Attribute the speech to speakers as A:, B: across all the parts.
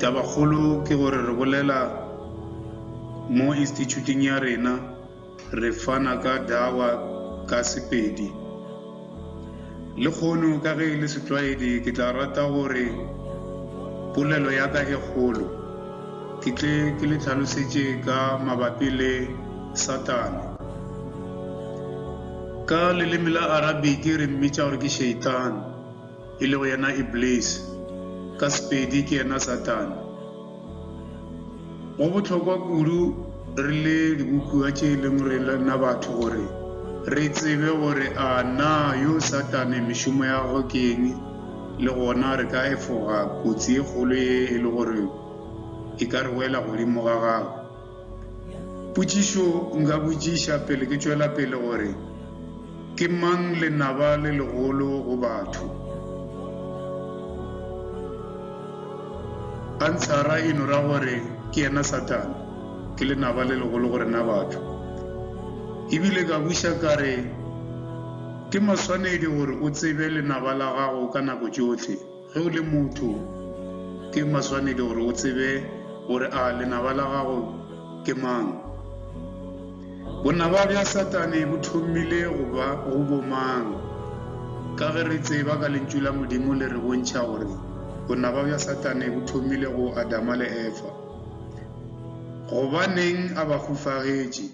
A: Tabakgolo ke gore re bolela mo Institšhuting ya rena re fana ka Dawa ka Sepedi. Lekgono ka ge e le setlwaedi ke tla rata gore polelo ya ka e kgolo ke tle ke le tlhalosetše ka mabapi le Satane. Ka leleme la Arabic re mmitša gore ke Sheitan. e lego yena Iblis, ka Sepedi ke yena Satane. Go bohlokwa kudu re le dibophiwa tše e leng rena batho gore re tsebe gore a na yo Satane mešomo ya gagwe ke eng le gona re ka efoga kotsi e kgolo ye e le gore e ka re wela godimo ga gagwe. Potšišo nka botšiša pele ke tšwela pele gore, Ke mang lenaba le legolo go batho? Ansara e no ra gore ke yena Satane, ke lenaba le legolo go rena batho. E bile ka buša ka re, Ke maswanedi gore o tsebe lenaba la gago ka nako tšohle. Ge o le motho, ke maswanedi gore o tsebe gore a lenaba la gago ke mang. Bonaba bja Satane bo thomile go ba go bomang? Ka ge re tseba ka Lentšu la Modimo le re bontšha gore bonaba bja Satane bo thomile go Adama le Efa. Gobaneng a ba hufagetše?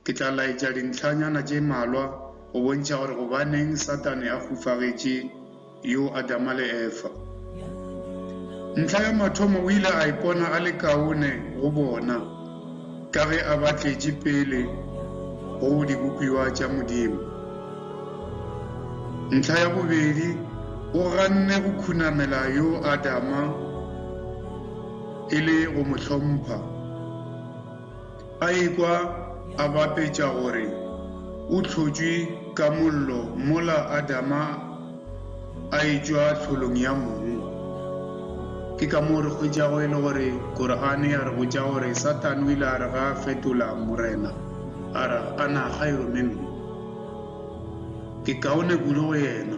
A: Ke tla laetša dintlhanyana tše mmalwa go bontšha gore gobaneng Satane a hufagetše yo Adama le Efa. Ntlha ya mathomo o ile a ipona a le kaone go bona ka ge a ba tletše pele go dibopiwa tša Modimo. Ntlha ya bobedi o ganne go khunamela yo Adama e le go mo hlompha. a ikwa a bapetša gore o hlotšwe ka mollo mola Adama a etšwa tlholong ya mong. Ke ka moo re hwetšago e le gore Korane ya re botša gore Satane o ile a re ga a fetola Morena, a re, Ana khairu minhu, ke kaone kudu go yena.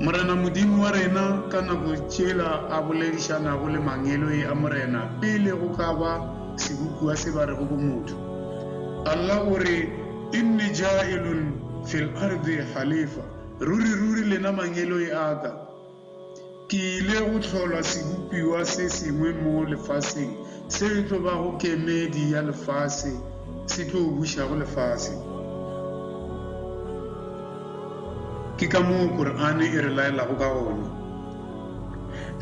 A: Morena Modimo wa rena ka nako tšela a boledišanago le mangeloi a Morena pele go ka ba sebopiwa se ba rego bo motho. Allah o re, Inni jaa'ilun fil ardi halifa, Ruri-ruri lena mangeloi a ka, Ke ile go hlola sebopiwa se sengwe mo lefaseng seo e tlo bago kemedi ya lefase, se tlo bušago lefase. Ke ka moo Korane e re laelago ka gona.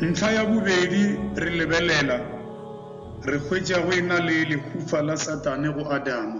A: Ntlha ya bobedi, re lebelela, re hwetša go e-na le lehufa la Satane go Adama.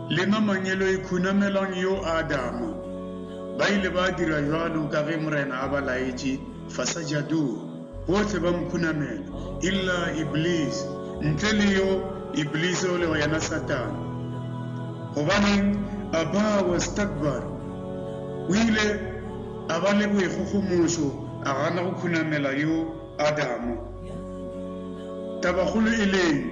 A: Le mamanyelo e khunamelang yo Adama. Ba ile ba dira jwalo ka ge Morena a ba laetše, Fasajadoo, bohle ba mo khunamela, illa Iblis, ntle le yo Iblis o lego yena Satana. Gobaneng? Aba wastakbar, o ile a ba le boikgogomošo a gana go khunamela yo Adama. Tabakgolo e leng?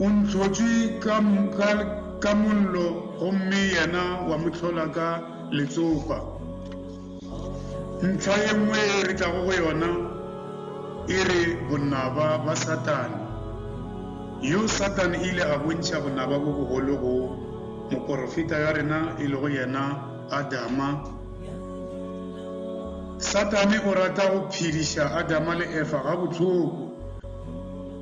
A: O ntlhotše ka mollo gomme yena wa mo hlola ka letsopa. Ntlha ye nngwe ye re tlago go yona e re bonaba ba Satane. Yo Satane e ile a bontšha bonaba bo bogolo go moporofeta ya rena e lego yena Adama. Satane o rata go phediša Adama le Efa gabohloko.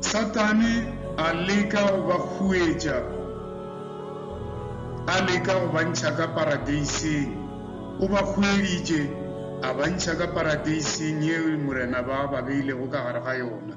A: Satane a leka go ba huetša, a leka go ba ntšha ka Paradeiseng. O ba hueditše, a ba ntšha ka Paradeiseng yeo Morena ba ba beilego ka gare ga yona.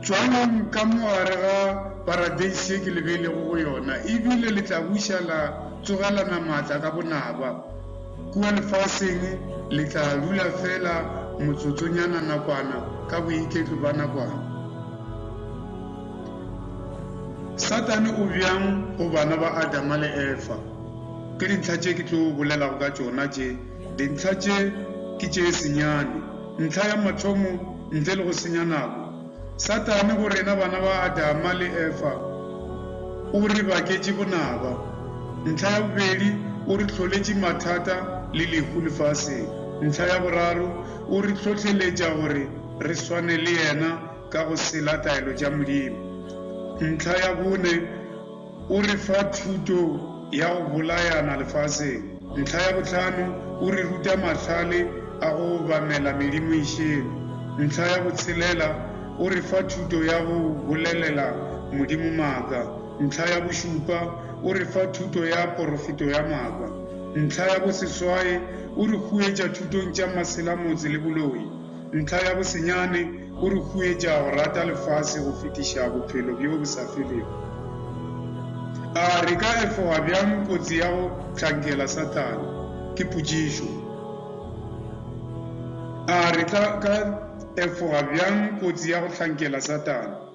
A: Tšwalang ka mo gare ga paradeise ye ke le beilego go yona, e bile le tla buša la tsogelana maatla ka bonaba. Kua lefaseng le tla dula feela motsotsonyana nakwana ka boiketlo bja nakwana. Satane o bjang go bana ba Adama le Efa? Ke dintlha tše ke tlo bolelago ka tšona tše. Dintlha tše ke tše senyane. Ntlha ya mathomo, ntle le go senya nako, Satane go rena bana ba Adama le Efa o re baketše bonaba. Ntlha ya bobedi, o re hloletše mathata le lehu lefaseng. Ntlha ya boraro, o re hlohleletša gore re swane le yena ka go sela taelo tša Modimo. Ntlha ya bone, O re fa thuto ya go bolayana lefaseng. Ntlha ya bohlano, o re ruta mahlale a go obamela medimo e šele. Ntlha ya botshelela, o re fa thuto ya go bolelela Modimo maaka. Ntlha ya bošupa, o re fa thuto ya porofeto ya maaka. Ntlha ya boseswae, o re huetša thutong tša maselamotse le boloi. Ntlha ya bosenyane o re huetša go rata lefase go fetiša bophelo bjo bo sa felego. A re ka efoga bjang kotsi ya go hlankela Sathane? Ke potšišo. A re tla ka efoga bjang kotsi ya go hlankela Sathane?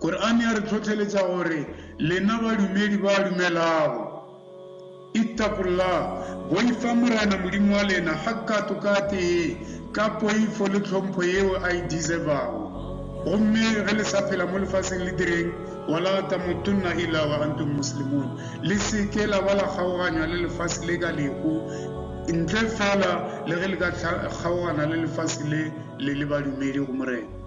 A: Korane ya re hlohleletša gore, Lena badumedi ba dumelago! Ittaqullah, boifa Morena Modimo wa lena hakkato-katee ka poifo le tlhompho yeo a e deservago. Gomme ge le sa phela mo lefaseng le direng, Wala tamutunna illa wa antum muslimun, le se ke la ba la kgaoganywa le lefase le ka lehu ntle feela le ge le ka kgaogana le lefase le le le badumedi go Morena.